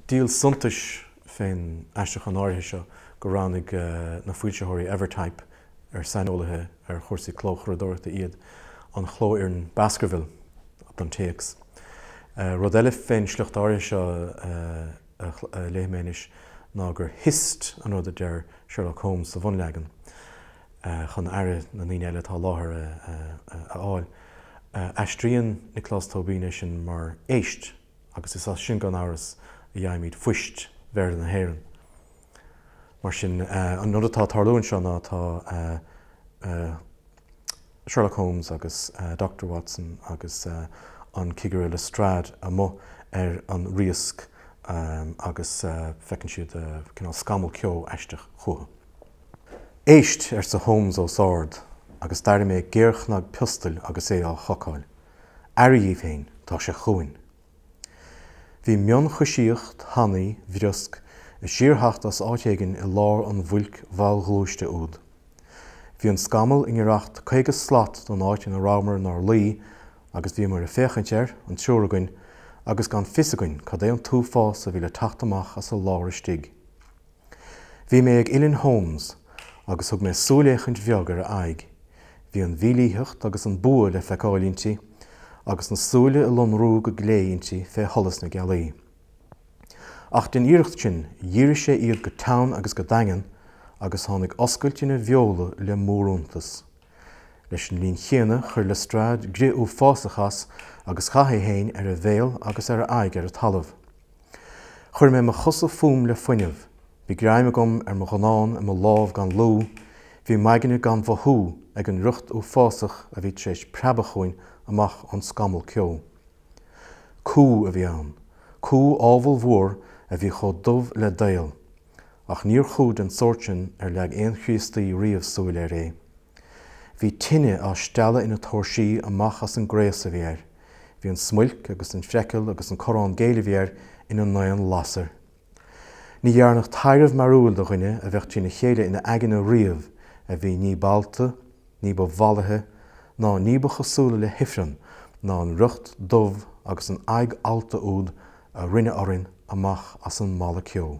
Díol suntais fén aistriúchán áirithe seo gur roghnaigh na foilsitheoirí Evertype ar saineolaithe ar chúrsaí clóchuradóireachta iad an chlófhoireann Baskerville don téacs. Rud eile fén sliocht áirithe seo a léifidh mé anois ná gur hist an rud a deir Sherlock Holmes sa bhunleagan chun aire na ndaoine eile atá i láthair a fháil. Aistríonn Nioclás Tóibín é sin mar éist. agus is as sin, gan amhras, a fhaighimid fuist Bhéarla na hÉireann. Mar sin, an rud atá ag tarlú anseo ná tá Sherlock Holmes agus Dochtúir Watson agus an Cigire Lestrade amuigh ar an riasc agus feiceann siad cineál scamall ceo aisteach chucu. Éist! arsa Holmes os ard, agus d'airigh mé géarchnag piostail agus é á chocáil. Aire dhíbh féin, tá sé chugainn. Bhí mionchoisíocht thanaí bhriosc ag síor-theacht as áit éigin i lár an bhuilc mhallghluaiste úd. Bhí an scamall i ngiorracht caoga slat don áit ina rabhamar 'nár luí, agus bhíomair ag féachaint air, an triúr againn, agus gan fios againn cad é an t-uafás a bhí le teacht amach as a lár istigh. Bhí mé ag uillinn Holmes agus thug mé súilfhéachaint bheag ar a aghaidh. Bhí an mhílítheacht agus an bua le feiceáil inti, agus na súile ag lonrú go glé inti fé sholas na gealaí. Ach den iarracht sin, dhírigh sé iad go teann agus go daingean agus tháinig oscailt ina bheola le mór-iontas. Leis an linn chéanna, chuir Lestrade grith uafásach as agus chaith é féin ar a bhéal agus ar a aghaidh ar an talamh. Chuir mé mo chosa fúm le fuinneamh. Bhí greim agam ar mo ghunnán i mo lámh gan lúth. Bhí m'aigne gan mhothú ag an riocht uafásach a bhí tar éis preabadh chugainn amach ón scamall ceo. Cú a bhí ann. Cú ábhalmhór a bhí chomh dubh le daol. Ach níor chú den tsórt sin ar leag aon Chríostaí riamh súil air é. Bhí tine á stealladh ina tóirsí amach as an gcraos a bhí air. Bhí an smuilc agus an phreiceall agus an corrán géill a bhí air ina n-aon lasair. Ní dhearnadh taibhreamh mearbhaill do dhuine a bheadh trína chéile ina aigne riamh a bhí ní b'allta, ní ba mhallaithe ná ní ba chosúla le hIfreann ná an riocht dubh agus an aghaidh allta úd a rinne orainn amach as an mballa ceo.